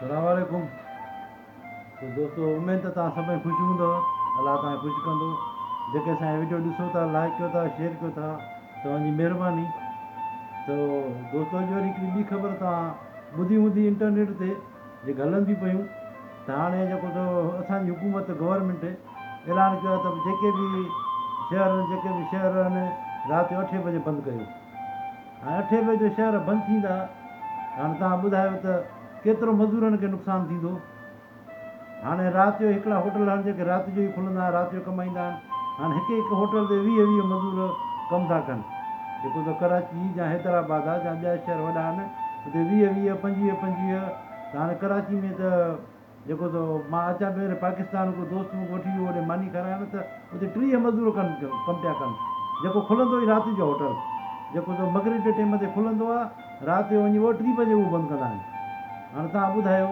سلام عليڪم تو دوستو اميد ته توهان سڀئي خوش هوندؤ الله توهان کي خوش ڪندو جيڪي اسان جا ويڊيو ڏسو ٿا لائڪ ڪيو ٿا شيئر ڪيو ٿا توهان جي مهرباني تو دوستو اڄ وري هڪڙي ٻي خبر توهان ٻڌي هوندي انٽرنيٽ تي جيڪي هلن ٿي پيون ته هاڻي جيڪو تو اسان جي حڪومت گورنمنٽ اعلان ڪيو آهي ته جيڪي به شهر جيڪي به شهر آهن رات جو اٺين بجي بند ڪيو هاڻ اٺين بجي جو شهر بند ٿيندا هاڻ توهان ٻڌايو ته ڪيترو مزورن کي نقصان ٿيندو هاڻي رات جو هڪڙا هوٽل آهن جيڪي رات جو ئي کلندا آهن رات جو ڪمائيندا آهن هاڻ هڪ هڪ هوٽل تي ويهه ويهه مزور ڪم ٿا ڪن جيڪو ته ڪراچي جا حيدرآباد آهي جا ٻيا شهر وڏا آهن اتي ويهه ويهه پنجويهه پنجويهه ته هاڻي ڪراچي ۾ ته جيڪو ته مان اچان پيو هيڏي پاڪستان ڪو دوست مون کي وٺي ويو هوڏي ماني کارائڻ ته اتي ٽيهه مزور ڪن ڪم پيا ڪن جيڪو کلندو ئي رات جو هوٽل جيڪو ته مغرب جي ٽيم تي کلندو آ رات جو وڃي ٻه ٽي بجي اهو بند ڪندا آهن هاڻي توهان ٻڌايو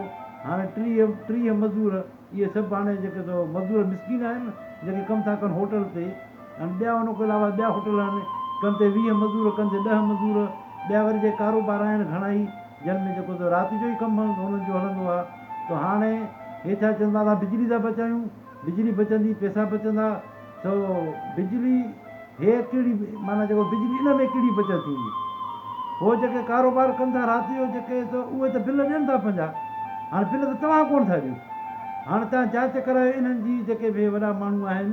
هاڻي ٽيهه ٽيهه مزور اهي سڀ هاڻي جيڪي ته مزور مسڪين آهن جيڪي ڪم ٿا ڪن هوٽل تي هاڻي ٻيا ان کان علاوه ٻيا هوٽل آهن ڪن تي ويهه مزور ڪن تي ڏهه مزور ٻيا وري جي ڪاروبار آهن گهڻائي جن ۾ جيڪو ته رات جو ئي ڪم هنن جو هلندو آ تو هاڻي هي ڇا چون ٿا اسان بجلي ٿا بچايون بجلي بچندي پئسا بچندا سو بجلي هي ڪهڙي معنيٰ جيڪو بجلي ان ۾ ڪهڙي بچت ٿيندي هو جيڪي ڪاروبار ڪن ٿا رات جو جيڪي سو اهي ته بل ڏين ٿا پنهنجا هاڻي بل ته توهان ڪونه ٿا ڏيو هاڻي توهان جاچ ڪرايو انهن جي جيڪي به وڏا ماڻهو آهن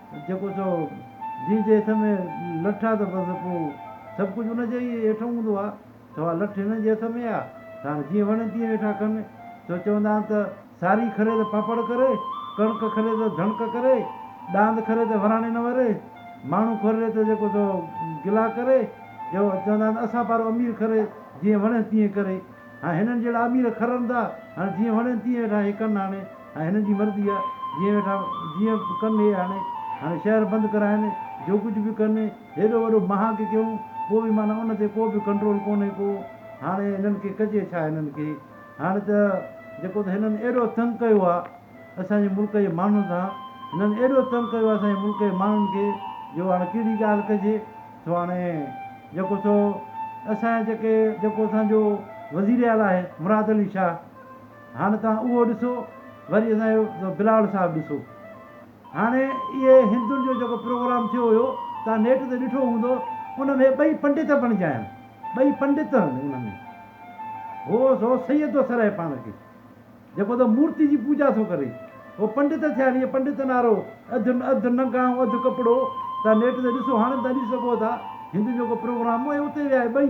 جيڪو چئو جنهن جي هٿ ۾ لٺ آ ته بس پوء سڀ ڪجهه ان جي ئي هيٺ هوندو آ ڇو آ لٺ هنن جي هٿ ۾ آ ته هاڻي جيئن وڻي تيئن ويٺا ڪن ڇو چوندا آهن ته ساري کري ته پاپڙ ڪري ڪڻڪ کري ته ڌڻڪ ڪري ڏاند کري ته وراڻي نه وري ماڻهو کري ته جيڪو چئو گلا ڪري جو چوندا آهن اسان پارو امير کري جيئن وڻيس تيئن ڪري هاڻي هنن جهڙا امير کرن ٿا هاڻي جيئن وڻين تيئن ويٺا هي ڪن هاڻي ۽ هنن جي مرضي آ جيئن ويٺا جيئن به ڪن هي هاڻي هاڻي شهر بند ڪرائن جو ڪجهه به ڪن هيڏو وڏو مهاڳ ڪيون پوء به معنيٰ ان تي ڪو به ڪنٽرول ڪونهي ڪو هاڻي هنن کي ڪجي ڇا هنن کي هاڻي ته جيڪو ته هنن ايڏو تنگ ڪيو آ اسان جي ملڪ جي ماڻهن سان هنن ايڏو تنگ ڪيو آ اسان جي ملڪ جي ماڻهن کي جو هاڻي ڪهڙي ڳالهه ڪجي سو هاڻي جيڪو سو اسان جا جيڪي جيڪو اسان جو وزير اعليٰ آهي مراد علي شاهه هاڻ توهان اهو ڏسو وري اسان جو بلاول صاحب ڏسو هاڻي اهي هندن جو جيڪو پروگرام ٿيو هيو توهان نيٽ تي ڏٺو هوندو ان ۾ ٻئي پنڊت بڻجيا آهن ٻئي پنڊت آهن ان ۾ هو سو سيد ٿو سرهي پاڻ کي جيڪو ته مورتي جي پوجا ٿو ڪري هو پنڊت ٿيا آهن اهي پنڊت نارو اڌ اڌ ننگا ۽ اڌ ڪپڙو توهان نيٽ تي ڏسو هاڻي توهان ڏسي سگهو ٿا هندن جو جيڪو پروگرام هو اهي اتي ويا آهي ٻئي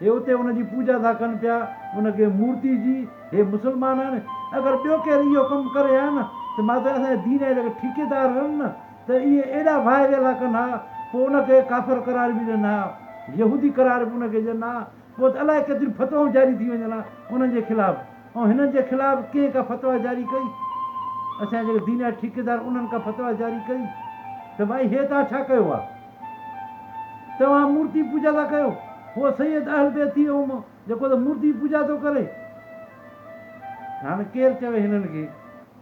هي اتي ان جي پوڄا ٿا ڪن پيا، ان کي مورتي جي. هي مسلمانن! اگر ٻيو ڪير اهو ڪم ڪري ها نه ته مان ته اسان جي دين جا جيڪي ٺيڪيدار هئن نه ته اهي ايڏا واهه ويلا ڪن ها، پوء ان کي ڪافر قرار به ڏين ها، يهودي قرار به ان کي ڏين ها، پوء ته الاء ڪيتريون فتوائون جاري ٿي وڃن ها انهن جي خلاف، ۽ هنن جي خلاف ڪنهن ڪا فتويٰ جاري ڪئي؟ اسان جي جيڪي دين جا ٺيڪيدار انهن ڪا فتويٰ جاري ڪئي؟ ته ڀائي هي توهان ڇا ڪيو ها؟ توهان مورتي پوڄا ٿا ڪيو، هو سيد اهل بيت ٿي ويو جيڪو ته مورتي پوڄا ٿو ڪري. هاڻي ڪير چوي هنن کي،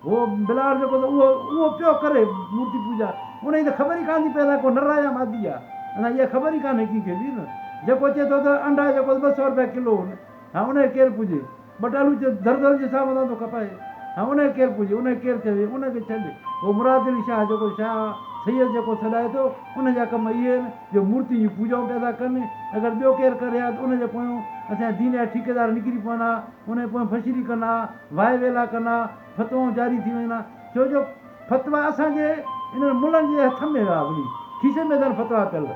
هو بلال جيڪو ته اهو اهو پيو ڪري مورتي پوڄا، ان جي ته خبر ئي ڪانه ٿي پئي اسان کي هو نر آهي يا مادي آهي، اسان کي اها خبر ئي ڪانه ڪنهن کي به نه، جيڪو چئي ٿو ته انڊا جيڪو ٻه سئو روپيا ڪلو هن. هانء انهيء ڪير پوڄي؟ ٻٽالو چيو، درزن جي ساهه مٿان ٿو ڪپائي. هانء انهيء ڪير پوڄي؟ انهيء ڪير چوي؟ ان کي ڇڏ. هو مراد علي شاهه جيڪو شاهه سيد جيڪو سڏائي ٿو، ان جا ڪم اهي آهن جو مورتين جون پوڄائون پيا ٿا ڪن. اگر ٻيو ڪير ڪري ها ته ان جي پويون اسان جا دين جا ٺيڪيدار نڪري پون ها، انهيء پويون ڦشري ڪن ها، واء ويلا ڪن ها. فتوائون جاري ٿي ويندا ڇو جو فتوا اسان جي انهن ملن جي هٿ ۾ هئا ولي کيسي ۾ اٿن فتوا پيل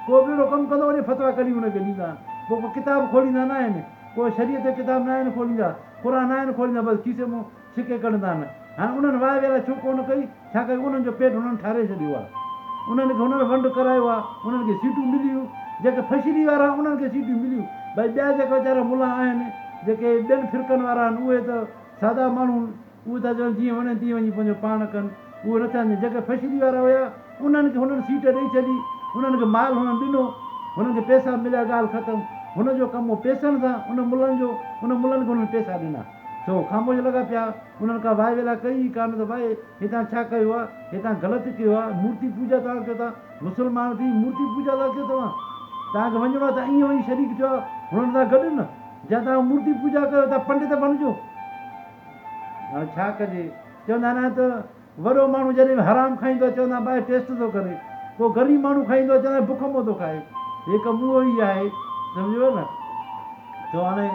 ڪو به اهڙو ڪم ڪندو وڃي فتوا ڪڍي ان کي ڏيندا پوء ڪو ڪتاب کوليندا ناهن ڪو شريعت جو ڪتاب ناهن کوليندا قرآن ناهن کوليندا بس کيسي مون سڪي ڪڍندا آهن هاڻي انهن واء ويلا ڇو ڪونه ڪئي ڇا ڪري انهن جو پيٽ انهن ٺاري ڇڏيو آهي انهن کي انهن ونڊ ڪرايو آهي انهن کي سيٽون مليون جيڪي فشري وارا انهن کي سيٽون مليون ڀائي ٻيا جيڪا ويچارا ملا آهن جيڪي ٻين فرقن وارا آهن اهي ته سادا ماڻهو اهي ٿا چون جيئن وڻين تيئن وڃي پنهنجو پاڻ ڪن اهو نه چاهن جيڪي فيشلي وارا هيا انهن کي هنن سيٽ ڏئي ڇڏي انهن کي مال هنن ڏنو هنن کي پيسا مليا ڳالهه ختم هن جو ڪم هو پيسن سان ان ملن جو ان ملن کي هنن پيسا ڏنا سو هو خاموش لڳا پيا انهن ڪا واء ويلا ڪئي ئي ڪانه ته واء هتان ڇا ڪيو آ هتان غلط ڪيو آ مورتي پوجا توهان ڪيو ٿا مسلمان ٿي مورتي پوجا ٿا ڪيو توهان توهان کي وڃڻو آ ته ائين وڃي شريڪ ٿيو آ هنن سان گڏ نه جا توهان مورتي پوڄا ڪيو ٿا پنڊت بڻجو هاڻي ڇا ڪجي چوندا آهن ته وڏو ماڻهو جڏهن به حرام کائيندو آهي چوندا آهن ٻاهر ٽيسٽ ٿو ڪري پوء غريب ماڻهو کائيندو آهي چوندا آهن بکمو ٿو کائي هي ڪم اهو ئي آهي سمجهيو نه تو هاڻي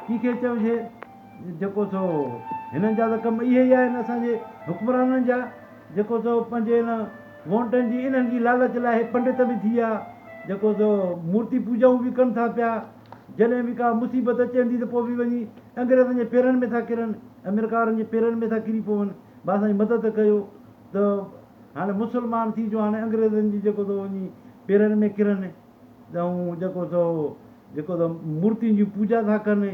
ڪنهن کي چئجي جيڪو سو هنن جا ته ڪم اهي ئي آهن اسان جي حڪمرانن جا جيڪو سو پنهنجي هن وونٽن جي انهن جي لالچ لاء هي پنڊت به ٿي ويا جيڪو سو مورتي پوڄائون به ڪن ٿا پيا جڏهن به ڪا مصيبت اچي اندي ته پوء به وڃي انگريزن جي پيرن ۾ ٿا ڪرن امريڪارن جي پيرن ۾ ٿا ڪري پون ڀا سائين مدد ڪيو ته هاڻي مسلمان ٿي جو هاڻي انگريزن جي جيڪو سو وڃي پيرن ۾ ڪرن ۽ جيڪو سو جيڪو سو مورتين جي پوڄا ٿا ڪن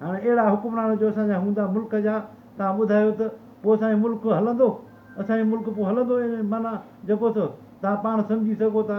هاڻي اهڙا حڪمران جو اسان جا هوندا ملڪ جا تان ٻڌايو ته پوء اسان ملڪ هلندو اسان ملڪ پوء هلندو معنيٰ جيڪو سو تان پاڻ سمجهي سگهو ٿا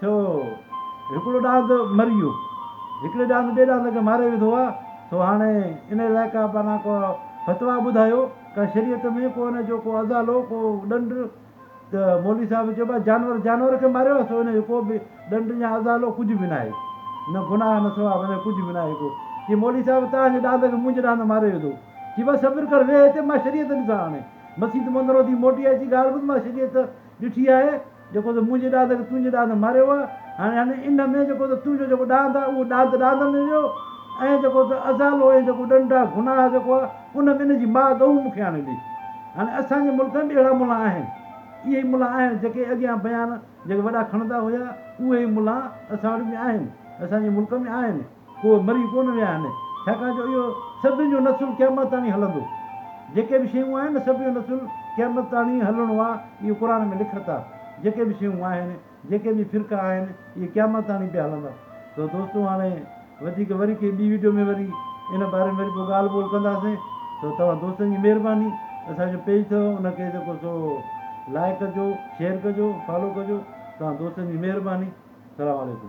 ٿيو هو. هڪڙو ڏاند مري ويو. هڪڙي ڏاند ٻئي ڏاند کي ماري وڌو آ. سو هاڻي ان علائقا پانا ڪو فتويٰ ٻڌايو ڪا شريعت ۾ ڪو ان جو ڪو ازالو ڪو ڏنڊ ته مولوي صاحب چيو با جانور جانور کي ماريو آ سو ان جو ڪو به ڏنڊ يا ازالو ڪجهه به ناهي نه گناهه نه ثواب ان جو ڪجهه به ناهي ڪو چي مولوي صاحب تان جي ڏاند کي منهنجي ڏاند ماري وڌو چي با صبر ڪر ويهه هتي مان شريعت ڏسان هاڻي مسيت مندرو ٿي موٽي اچي ڳالهه ٻڌ مان شريعت ڏٺي آهي جيڪو تو منهنجي ڏاند کي تنهنجي ڏاند ماريو هو، هاڻي هن انهن ۾ جيڪو تو تنهنجو جيڪو ڏاند آهي، اهو ڏاند ڏاند ۾ ويو، ۽ جيڪو تو ازالو ۽ جيڪو ڏنڊ آهي، گناهه جيڪو آهي، ان ۾ ان جي ماء ڳئون مون کي آڻي ڏي. هاڻي اسان جي ملڪ ۾ به اهڙا ملان آهن. اهي ئي ملان آهن، جيڪي اڳيان بيان جيڪي وڏا کڻندا هيا، اهي ئي ملان اسان وٽ به آهن، اسان جي ملڪ ۾ آهن. اهي مري ڪونه ويا آهن، ڇاڪاڻ جو اهو سڀني جو نسل قيامت تاڻي هلندو. جيڪي به شيون آهن، سڀ جو نسل قيامت تاڻي هلڻو آهي، اهو قرآن ۾ لکت آهي. جيڪي به شيون آهن، جيڪي به فرقا آهن، اهي قيامت تاڻي پيا هلندا. سو دوستو هاڻي وڌيڪ وري ڪنهن ٻي وڊيو ۾ وري ان باري ۾ وري پوء ڳالهه ٻولهه ڪنداسين. سو توهان دوستن جي مهرباني اسان جو پيج اٿو ان کي جيڪو سو لائيڪ ڪجو، شيئر ڪجو، فالو ڪجو. توهان دوستن جي مهرباني. سلام عليڪم.